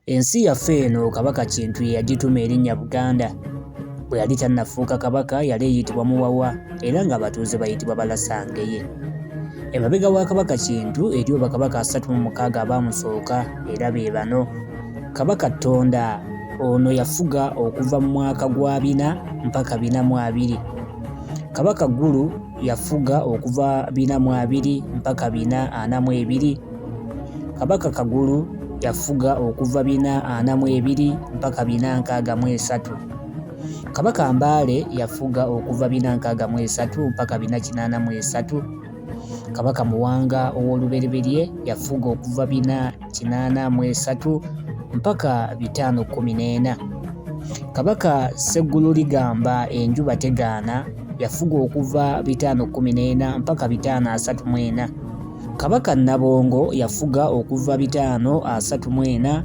Ensi yaffe eno Kabaka Kintu ye yagituma erinnya Buganda. Bwe yali tannafuuka Kabaka yali eyitibwa Muwawa era ng'abatuuze bayitibwa Balasangeye. Emabega wa Kabaka Kintu eriyo bakabaka asatu mu mukaaga abaamusooka era be bano. Kabaka Ttonda ono yafuga okuva mu mwaka gwa bina mpaka bina mu abiri. Kabaka Ggulu yafuga okuva bina mu abiri mpaka bina ana mu ebiri. Kabaka Kagulu yafuga okuva bina ana mu ebiri mpaka bina nkaaga mu esatu. Kabaka Mbaale yafuga okuva bina nkaaga mu esatu mpaka bina kinaana mu esatu. Kabaka Muwanga ow'olubereberye yafuga okuva bina kinaana mu esatu mpaka bitaano kkumi n'ena. Kabaka Sseggulu Ligamba enjuba tegaana yafuga okuva bitaano kkumi n'ena mpaka bitaano asatu mu ena. Kabaka Nabongo yafuga okuva bitaano asatu mu ena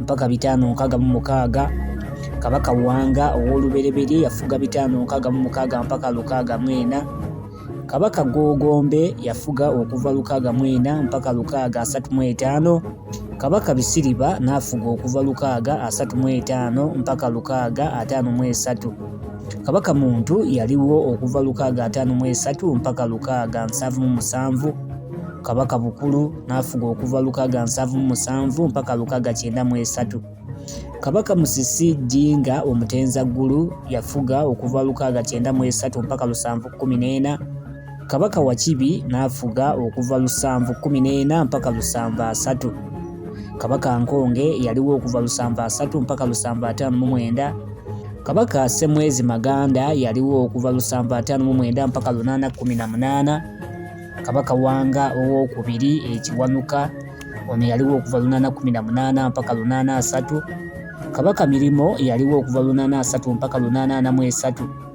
mpaka bitaano nkaaga mu mukaaga. Kabaka Wanga ow'olubereberye yafuga bitaano nkaaga mu mukaaga mpaka lukaaga mu ena. Kabaka Gogombe yafuga okuva lukaaga mu ena mpaka lukaaga asatu mu etaano. Kabaka Bisiriba n'afuga okuva lukaaga asatu mu etaano mpaka lukaaga ataano mu esatu. Kabaka Muntu yaliwo okuva lukaaga ataano mu esatu mpaka lukaaga nsanvu mu musanvu. Kabaka Bukulu n'afuga okuva lukaaga nsanvu mu musanvu mpaka lukaaga kyenda mu esatu. Kabaka Musisi Jjinga Omutenzaggulu yafuga okuva lukaaga kyenda mu esatu mpaka lusanvu kkumi n'ena. Kabaka Wakibi n'afuga okuva lusanvu kkumi n'ena mpaka lusanvu asatu. Kabaka Nkonge yaliwo okuva lusanvu asatu mpaka lusanvu ataano mu mwenda. Kabaka Ssemwezi Maganda yaliwo okuva lusanvu ataano mu mwenda mpaka lunaana kkumi na munaana. Kabaka Wanga ow'okubiri ekiwanuka ono yaliwo okuva lunaana kkumi na munaana mpaka lunaana asatu. Kabaka Mirimo yaliwo okuva lunaana asatu mpaka lunaana ana mu esatu.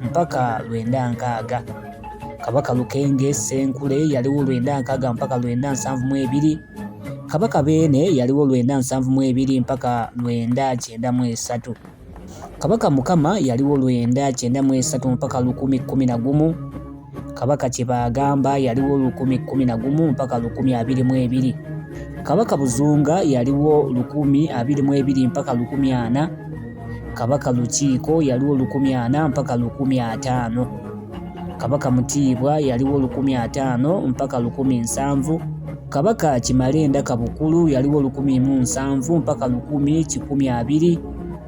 mpaka lwenda nkaaga kabaka lukenge senkule yaliwo lwenda nkaaga mpaka lwenda nsanvu mu ebiri kabaka beene yaliwo lwenda nsanvu mu ebiri mpaka lwenda kyenda mu esatu kabaka mukama yaliwo lwenda kyenda mu esatu mpaka lukumi kkumi na gumu Kabaka Kyebaagamba yaliwo lukumi kkumi na gumu mpaka lukumi abiri mu ebiri. Kabaka Buzunga yaliwo lukumi abiri mu ebiri mpaka lukumi ana. Kabaka Lukiiko yaliwo lukumi ana mpaka lukumi ataano. Kabaka Mutiibwa yaliwo lukumi ataano mpaka lukumi nsanvu. Kabaka Kimalenda Kabukulu yaliwo lukumi mu nsanvu mpaka lukumi kikumi abiri.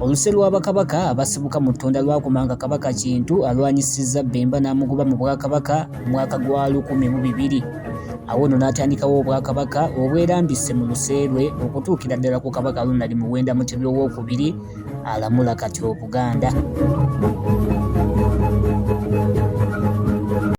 Oluse lwa bakabaka abasibuka mu Ttunda lwakoma nga Kabaka Kintu alwanyisizza Bbemba n'amugoba mu Bwakabaka mu mwaka gwa lukumi mu bibiri. Awo nno n'atandikawo Obwakabaka obwerambise mu luse lwe okutuukira ddala ku Kabaka Ronald Muwenda Mutebi ow'okubiri alamula kati Obuganda.